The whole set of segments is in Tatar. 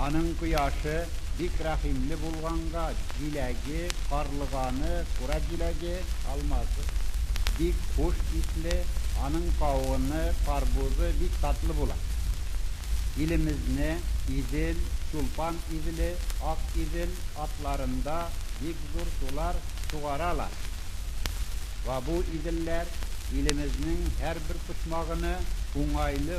Аның кояшы бик рәхимле булганга, җиләге, карлыганы, кура җиләге, алмазы, бик хуш исле, аның кавыны, карбузы бик татлы була. Илемезне Идел, Чулпан Иделе, Ак Идел атларында бик зур сулар сугаралар. Вабу Иделләр илемезнең һәрбер почмагыны уңайлы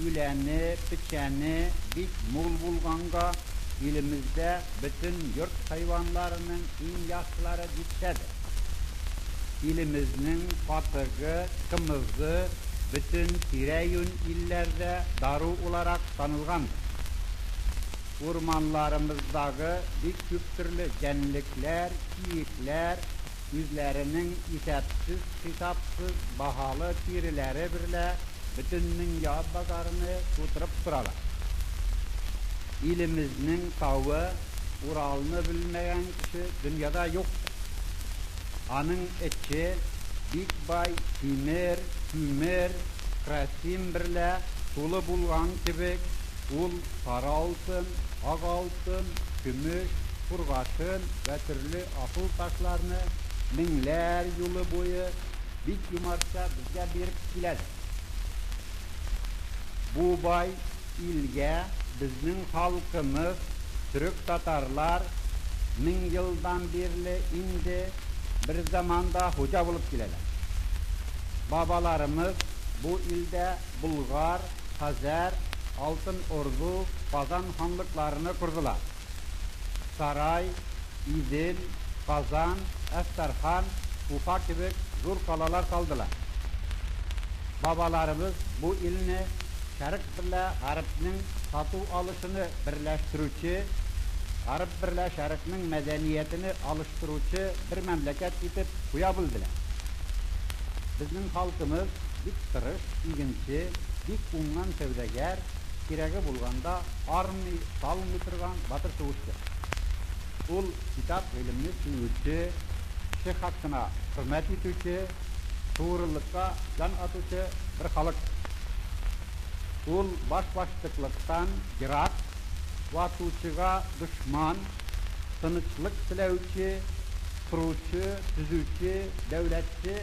Үләне, печәне бик мул булганга, илемездә бөтен йорт хайванларының иң яхшылары дисә дә, илемезнең катыгы, кымызы бөтен тирә-юнь илләрдә дару уларак танылгандыр. Урманларымыздагы бик күптөрле җәнлекләр, киекләр, үзләренең исәпсез-хисапсыз баһалы тиреләре берлә бөтендөнья базарыны тутырып торалар. Илемезнең тавы Уралны белмәгән кеше дөньяда юктыр. Аның эче бик бай тимер, күмер, красим берлә тулы булган кебек, ул сары алтын, ак алтын, көмеш, кургашын вә төрле акыл ташларны меңләр юлы буе бик юмартча безгә биреп киләдер. Бу бай илгә безнең халкымыз, төрек-татарлар, мең елдан бирле инде берзаман да хуҗа булып киләләр. Бабаларымыз бу илдә Болгар, Хәзәр, Алтын Орду, Казан ханлыкларыны кордылар. Сарай, Идел, Казан, Әстерхан, Уфа кебек зур калалар салдылар. Бабаларыбыз бу илне Шәрык берлә Гарбнең сату-алышыны берләштерүче, Гарб берлә Шәрыкнең мәдәниятене алыштыручы бер мәмләкәт итеп куя белделәр. Безнең халкымыз бик тырыш, игенче, бик уңган сәүдәгәр, Кирәге булганда армый, талмый торган батыр сугышчы. Ул, китап, гыйлемне сөюче, кеше хакына хөрмәт итүче, тугрылыкка җан атучы бер халык. Ул башбаштыклыктан ерак, ватучыга дошман, тынычлык теләүче, коручы, төзүче, дәүләтче,